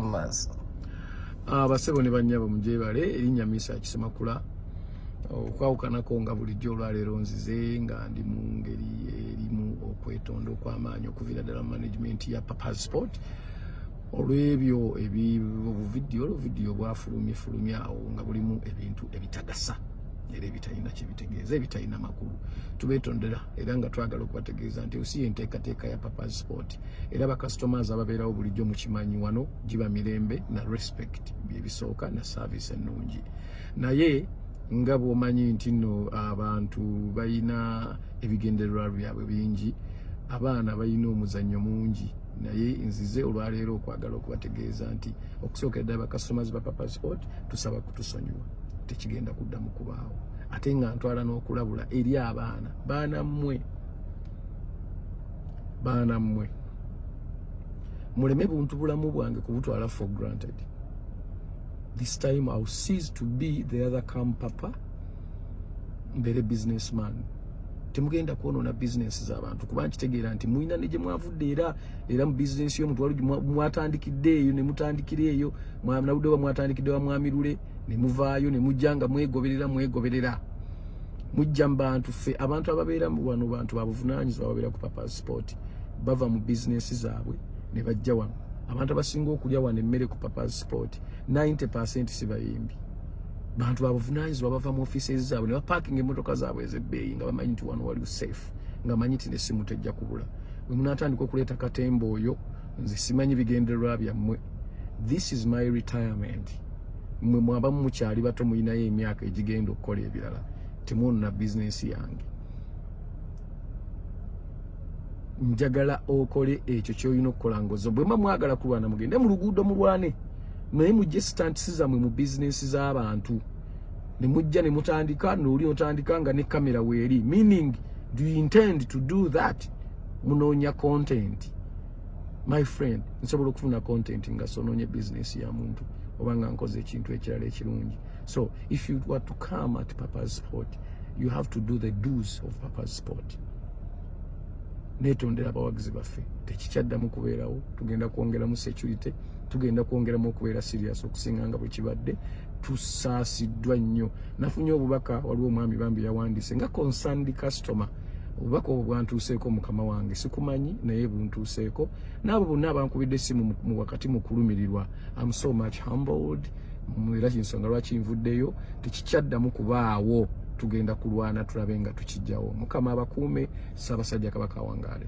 mumaso ah, basebo ne banyabo mujebale erinya misa akisemakula okwawukanako nga bulijjo olwaleero nzize nga ndi mu ngeri erimu okwetonda okw'amaanyi okuviira ddala mu management ya papas sport olw'ebyo ebibuvidiyo oluvidiyo bwafulumye fulumye awo nga bulimu ebintu ebitagasa era ebitalina kyebitegeeza ebitalina makulu tubetondera era nga twagala okubategeeza nti osi yenteekateeka ya papas sport era ba customers ababeerawo bulijjo mukimanyi wano giba mirembe na respect byebisooka na service ennungi naye nga bwomanyi nti no abantu balina ebigendererwa byabwe bingi abaana balina omuzannyo mungi naye nzize olwaleero okwagala okubategeeza nti okusookera ddala bacustomers ba papa sport tusaba kutusonyiwa tekigenda kuddamu kubaawo ate nga ntwala n'okulabula eri abaana baana mmwe baana mmwe muleme buntu bulamu bwange kubutwala for granted this time I'll cease to be the other come papa mbere businessman temugenda kwonoona bizinensi z'abantu kuba nkitegeera nti mulina ne gye mwavudde era era mu bizinensi y'omuntu wali mwatandikidde eyo ne mutandikira eyo nabudde oba mwatandikidde wa mwamirule ne muvaayo ne mujja nga mwegoberera mwegoberera mujja mu bantu ffe abantu ababeera mu wano bantu babuvunaanyizibwa ababeera ku papasport bava mu bizinesi zaabwe ne bajja wano abantu abasinga okulya wano emmere ku papasport 90 percent si bayimbi bantu babuvunaanyizibwa bava mu offices zaabwe ne bapaakinga emmotoka zaabwe ez'ebbeeyi nga bamanyi nti wano waliwo safe nga manyi nti ne simu tejja kubula we munaatandika okuleeta katemba oyo nze simanyi bigendererwa byammwe this is my retirement mwe mwaba mukyali bato mulinayo emyaka egigenda okukola ebirala temwonona bizinensi yange njagala okole ekyo kyolina okukola ngozo bwemba mwagala kulwana mugende mu luguudo mulwane naye mujje sitantisi zamwe mu bizinensi z'abantu ne mujja ne mutandika nooli otandika nga ne kamera weeri meaning do you intend to do that munoonya content my friend nsobola okufuna content nga sononye business ya muntu oba nga nkoze ekintu ekirala ekirungi so if you were to come at papa's spot you have to do the do's of papa's spot netondera abawagizi baffe tekikyaddamu kubeerawo tugenda kwongeramu security tugenda kwongeramu okubeera serious okusinga nga bwe kibadde tusaasiddwa nnyo nafunye obubaka waliwo omwami bambi yawandiise nga concerned customer obubaka obwo bwantuuseeko mukama wange sikumanyi naye buntuuseeko naabo bonna abankubidde essimu mu wakati mu kulumirirwa am so much humbled era kinsonga lwaki nvuddeyo tekikyaddamu kubaawo tugenda kulwana tulabe nga tukijjawo mukama abakuume ssaabasajja kabaka wangaale